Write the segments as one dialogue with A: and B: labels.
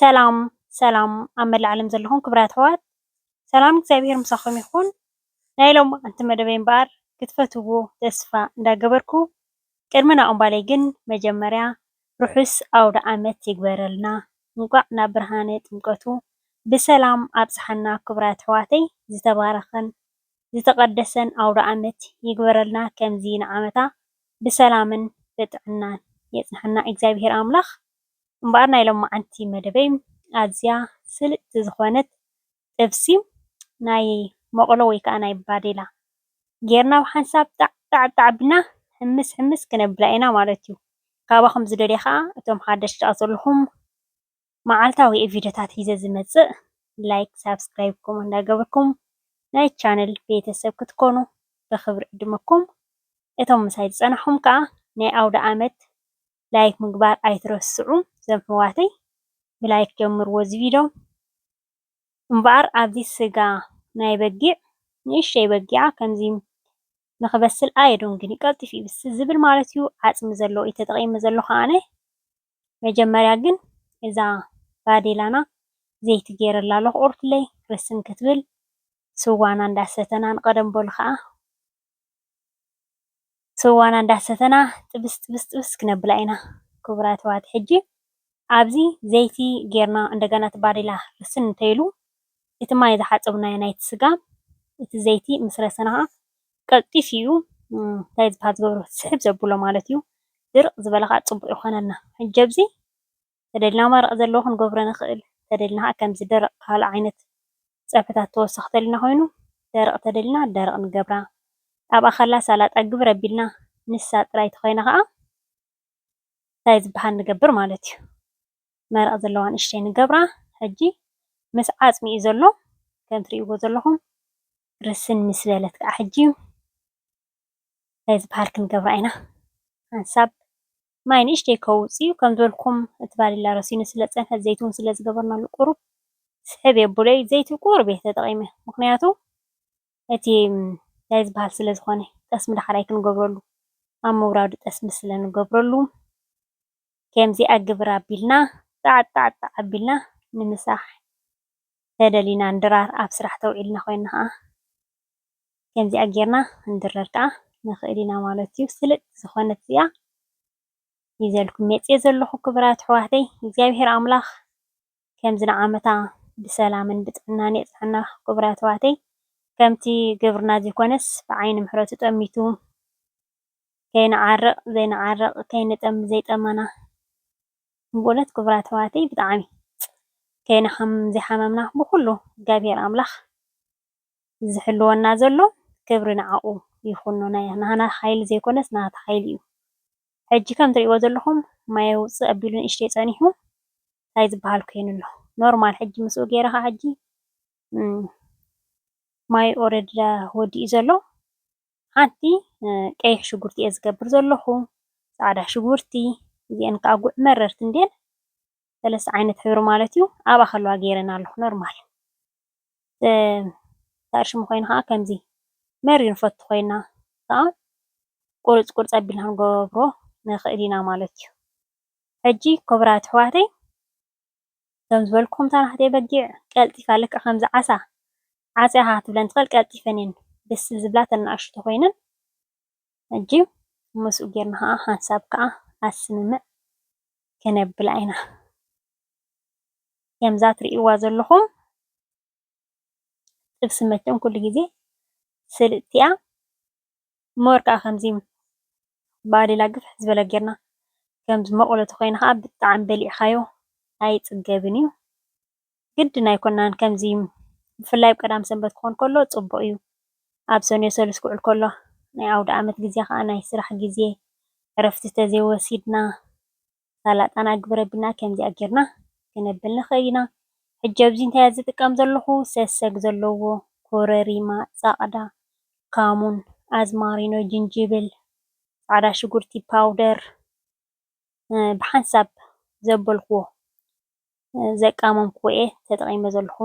A: ሰላም ሰላም ኣብ መላእ ዓለም ዘለኹም ክብራት ኣሕዋት ሰላም እግዚኣብሔር ምሳኹም ይኹን። ናይ ሎምዓንቲ መደበይ እምበኣር ክትፈትዎ ተስፋ እንዳገበርኩ ቅድሚ ናብኡ ምባለይ ግን መጀመርያ ርሑስ ኣውደ ዓመት ይግበረልና እንቋዕ ናብ ብርሃነ ጥምቀቱ ብሰላም ኣብጽሓና ክብራት ኣሕዋተይ ዝተባረኸን ዝተቀደሰን ኣውደኣመት ይግበረልና ከምዚ ንዓመታ ብሰላምን ብጥዕናን የጽንሓና እግዚኣብሄር ኣምላኽ እምበኣር ናይ ሎማዓንቲ መደበይ ኣዝያ ስልጥቲ ዝኾነት ጥብሲ ናይ ሞቅሎ ወይ ከኣ ናይ ባዴላ ጌርና ብሓንሳብ ጣዕጣዕ ኣቢልና ሕምስ ሕምስ ክነብላ ኢና ማለት እዩ ካባኹም ዝደልዮ ከኣ እቶም ሓደሽቲ ኣዘለኹም መዓልታዊ ቪድዮታት ሒዘ ዝመፅእ ላይክ ሳብስክራይብኩም እንዳገበርኩም ናይ ቻነል ቤተሰብ ክትኮኑ ብክብሪ ዕድመኩም እቶም ምሳይ ዝፀናሕኹም ከዓ ናይ ኣውደኣመት ላይክ ምግባር ኣይትረስዑ ዘምሕዋተይ ብላይክ ጀምርዎ እዚ ቪድዮ እምበኣር ኣብዚ ስጋ ናይ በጊዕ ንእሽተይ በጊዓ ከምዚ ንክበስል ኣየዶንግንዩ ቀልጢፉ ይብስል ዝብል ማለትዩ ዓፅሚ ዘለዎ እዩ ተጠቂመ ዘለኹ ኣነ መጀመርያ ግን እዛ ባዴላና ዘይቲ ጌረላ ኣለኩ ቁርትለይ ርስን ክትብል ስዋና እንዳሰተና ንቀደም በሉ ከኣ ስዋና እንዳሰተና ጥብስ ጥብስ ጥብስ ክነብላ ኢና ክቡራት ኣሕዋት ሕጂ ኣብዚ ዘይቲ ጌርና እንደገና እቲ ባዴላ ርስን እንተይሉ እቲ ማይ ዝሓጸብናዮ ናይቲ ስጋ እቲ ዘይቲ ምስ ረሰና ከኣ ቀልጢፉ እዩ እንታይ ዝባሃል ዝገብሮ ስሕብ ዘብሎ ማለት እዩ። ድርቅ ዝበለ ከኣ ጽቡቅ ይኾነልና ሕጂ ኣብዚ ተደሊና መረቅ ዘለዎ ክንገብሮ ንኽእል ተደሊና ከኣ ከምዚ ደረቅ ካልእ ዓይነት ጸብሕታት ተወሳኺ ተደሊና ኮይኑ ደረቅ ተደሊና ደረቅ ንገብራ ኣብኣ ከላ ሰላጣ ግብር ኣቢልና ንሳ ጥራይ ተኾይና ከኣ እንታይ ዝባሃል ንገብር ማለት እዩ መረቅ ዘለዋ ንእሽተይ ንገብራ ሕጂ ምስ ዓጽሚ እዩ ዘሎ ከም ትሪእዎ ዘለኹም። ርስን ምስ በለት ከዓ ሕጂ እንታይ ዝበሃል ክንገብራ ኢና ሓንሳብ ማይ ንእሽተይ ከውፅ እዩ ከም ዝበልኩም እቲ ባሊላ ረሲኑ ስለ ፀንሐ ዘይቲ እውን ስለ ዝገበርናሉ ቁሩብ ስሕብ የብለይ ዘይቲ ቁሩብ እየ ተጠቒመ ምክንያቱ እቲ እንታይ ዝበሃል ስለ ዝኾነ ጠስሚ ዳሕራይ ክንገብረሉ ኣብ ምውራዱ ጠስሚ ስለ ንገብረሉ ከምዚ ኣግብር ኣቢልና ጣዕጣዕጣዕ ኣቢልና ንምሳሕ ተደሊና ንድራር ኣብ ስራሕ ተውዒልና ኮይና ከኣ ከምዚኣ ጌርና ክንድረር ከኣ ንክእል ኢና ማለት እዩ ስልጥ ዝኾነት እዚኣ ይዘልኩም መጽየ ዘለኹ ክብራት ኣሕዋተይ እግዚኣብሔር ኣምላኽ ከምዚ ንዓመታ ብሰላምን ብጥዕናን የጽናና ክብራት ኣሕዋተይ ከምቲ ግብርና ዘይኮነስ ብዓይኒ ምሕረቱ ጠሚቱ ከይንዓርቕ ዘይንዓርቕ ከይንጠሚ ዘይጠመና ብእውነት ክቡራት ኣሕዋተይ ብጣዕሚ ከይነ ከም ዘይሓመምና ብኹሉ እግዚኣብሔር ኣምላኽ ዝሕልወና ዘሎ ክብሪ ንዓኡ ይኹን ናህና ሓይሊ ዘይኮነስ ናቱ ሓይሊ እዩ ሕጂ ከም ትሪእዎ ዘለኹም ማይ ውጽእ ኣቢሉ ንእሽተይ ጸኒሑ እንታይ ዝበሃል ኮይኑ ኣሎ ኖርማል ሕጂ ምስኡ ገይረ ከዓ ሕጂ ማይ ኦረዲ ወዲኡ ዘሎ ሓንቲ ቀይሕ ሽጉርቲ እየ ዝገብር ዘለኹ፣ ፃዕዳ ሽጉርቲ እዚኤን ከዓ ጉዕ መረርቲ እንድየን ሰለስተ ዓይነት ሕብሪ ማለት እዩ። ኣብኣ ከለዋ ገይረን ኣለኹ ኖርማል ተኣርሽሙ ኮይኑ ከዓ ከምዚ መሪር ንፈቱ ኮይና ከዓ ቁርፅ ቁርፅ ኣቢልና ክንገብሮ ንኽእል ኢና ማለት እዩ። ሕጂ ክቡራት ኣሕዋተይ ከም ዝበልኩም እታ ናህተይ በጊዕ ቀልጢፋ ልክዕ ከምዚ ዓሳ ዓጽያ ሃህ ክትብለን ትክእል ቀልጢፈን እየን ደስ ዝብላ እተን ንኣሽቱ ተኮይነን ሕጂ ምስኡ ጌርና ከዓ ሓንሳብ ከዓ ኣብ ስምምዕ ክነብላ ኢና ከምዛ ትርእይዋ ዘለኹም ጥብሲ መቸም ኩሉ ግዜ ስልጥቲ እያ እምበር ከኣ ከምዚ ባዴላ ግፍሕ ዝበለ ጌርና ከምዚ መቑሎ ተኾይኑ ከኣ ብጣዕሚ በሊዕኻዮ ኣይጽገብን እዩ ግድን ኣይኮናን ከምዚ ብፍላይ ኣብ ቀዳም ሰንበት ክኾን ከሎ ጽቡቕ እዩ ኣብ ሰኑየ ሰሉስ ክውዕል ከሎ ናይ ኣውድኣመት ግዜ ከኣ ናይ ስራሕ ግዜ ዕረፍቲ ተዘይወሲድና ሳላጣ ናይ ግብረብልና ከምዚኣ ጌርና ክነብል ንክእል ኢና ሕጂ ኣብዚ እንታይ እየ ዝጥቀም ዘለኩ ሰሰግ ዘለዎ ኮረሪማ ጻቅዳ ካሙን ኣዝማሪኖ ጅንጅብል ጻዕዳ ሽጉርቲ ፓውደር ብሓንሳብ ዘበልክዎ ዘቃመምክዎ እየ ተጠቂመ ዘለኩ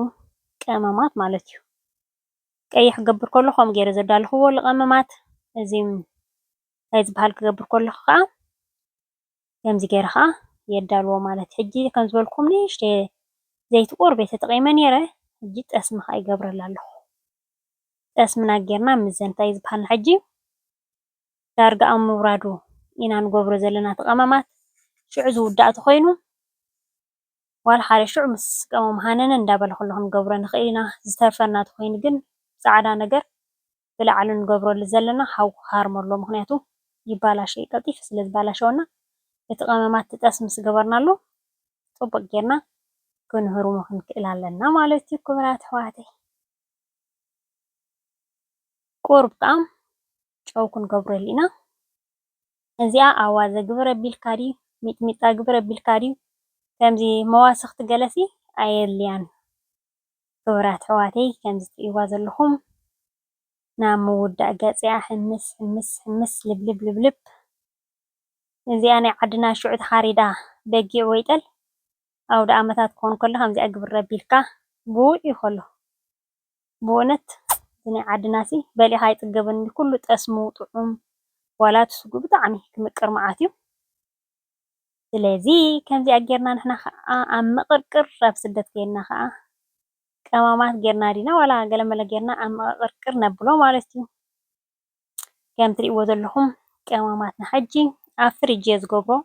A: ቀመማት ማለት እዩ ቀይሕ ክገብር ከለኩ ከምኡ ጌረ ዘዳለክዎ ልቀመማት እዚ ታይ ዝበሃል ክገብር ከለኩ ከኣ ከምዚ ገይረ ከዓ የዳልዎ ማለት እዩ። ሕጂ ከም ዝበልኩም ንእሽተይ ዘይቲ ቁርብ እየ ተጠቒመ ነይረ። ሕጂ ጠስሚ ከዓ ይገብረላ ኣለኹ። ጠስምና ጌርና ምዘን እንታይ እዩ ዝበሃልና ሕጂ ዳርጋ ኣብ ምውራዱ ኢና ንገብሮ ዘለና እቲ ቀመማት ሽዑ ዝውዳእ ተኾይኑ ዋላ ሓደ ሽዑ ምስ ቀመሙ ሃነነ እንዳበለ ከለኹ ንገብሮ ንኽእል ኢና። ዝተርፈና ተኾይኑ ግን ጻዕዳ ነገር ብላዕሊ ንገብረሉ ዘለና ሓዊ ክሃርሞ ኣለዎ ምክንያቱ ይባላሾ እዩ ቀልጢፉ ስለ ዝባላሸወና እቲ ቀመማት ትጠስ ምስ ገበርናሉ ጽቡቅ ጌርና ክንህርሞ ክንክእል ኣለና ማለት እዩ ክብራት ኣሕዋተይ ቁሩብ ጣም ጨው ክንገብረሉ ኢና እዚኣ ኣዋዘ ግብር ኣቢልካ ድዩ ሚጥሚጣ ግብር ኣቢልካ ድዩ ከምዚ መዋስኽቲ ገለሲ ኣየድልያን ክብራት ኣሕዋተይ ከምዚ ትርእይዋ ዘለኹም ናብ ምውዳእ ገጽያ ሕምስ ሕምስ ሕምስ ልብልብ ልብልብ እዚኣ ናይ ዓድና ሽዑ ተሓሪዳ በጊዕ ወይ ጠል ኣውደኣመታት ክኾን ከሎ ከምዚኣ ግብር ኣቢልካ ብውዕ እዩ ከሎ ብእውነት እዚ ናይ ዓድናሲ በሊዕኻ ኣይጽገብን ኩሉ ጠስሙ ጥዑም ዋላ እቲ ስግኡ ብጣዕሚ ክምቅር መዓት እዩ ስለዚ ከምዚኣ ጌርና ንሕና ከኣ ኣብ ምቅርቅር ኣብ ስደት ከይድና ከኣ ቀማማት ጌርና ዲና ዋላ ገለመለ ጌርና ኣብ ምቅቅርቅር ነብሎ ማለት እዩ ከም ትሪእዎ ዘለኹም ቀማማትና ሕጂ ኣብ ፍሪጅ እየ ዝገብሮ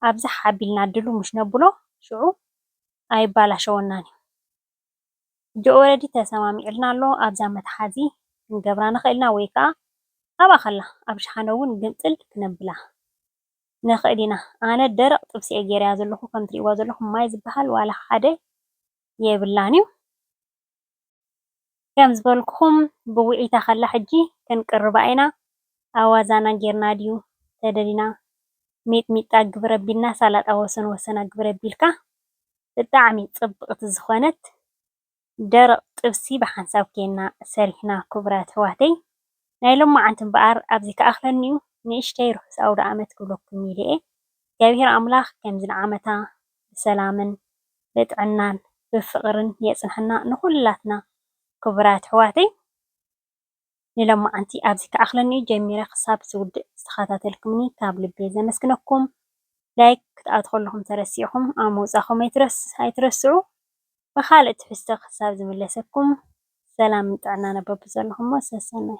A: ኣብዝሓ ኣቢልና ድሉሙሽ ነብሎ ሽዑ ኣይባላሸወናን እዩ ኦረዲ ተሰማሚዑልና ኣሎ ኣብዛ መትሓዚ ክንገብራ ንኽእል ኢና ወይ ከኣ ኣብኣ ከላ ኣብ ሸሓነ ውን ግምጥል ክነብላ ንኽእል ኢና ኣነ ደረቅ ጥብሲ እየ ጌረያ ዘለኹ ከም ትርእይዋ ዘለኹም ማይ ዝበሃል ዋላ ሓደ የብላን እዩ ከም ዝበልኩኹም ብውዒታ ከላ ሕጂ ክንቅርባ ኢና ኣዋዛና ጌርና ድዩ ተደሊና ሚጥሚጣ ግብረ ቢልና ሳላጣ ወሰን ወሰና ግብረ ቢልካ ብጣዕሚ ጽብቅቲ ዝኮነት ደረቅ ጥብሲ ብሓንሳብ ኬና ሰሪሕና ኩቡራት ኣሕዋተይ ናይ ሎማዓንቲ እምበኣር ኣብዚ ክኣክለኒዩ ንእሽተይ ርሑስ ኣውዳኣመት ክብለኩም ኢለየ እግዚኣብሄር ኣምላክ ከምዚ ንዓመታ ብሰላምን ብጥዕናን ብፍቅርን የጽንሐና ንኩላትና ኩቡራት ኣሕዋተይ። ንሎማዓንቲ ኣብዚ ክኣኽለኒ'ዩ ጀሚረ ክሳብ ዝውድእ ዝተኸታተልኩምኒ ካብ ልቢ ዘመስግነኩም Like ክትኣትዉ ከለኹም ተረሲዕኩም ኣብ ምውጻኹም ኣይትረስዑ ብኻልእ ትሕዝቶ ክሳብ ዝምለሰኩም ሰላምን ጥዕናን ኣብ በብዘለኹሞ ሰሰናዩ።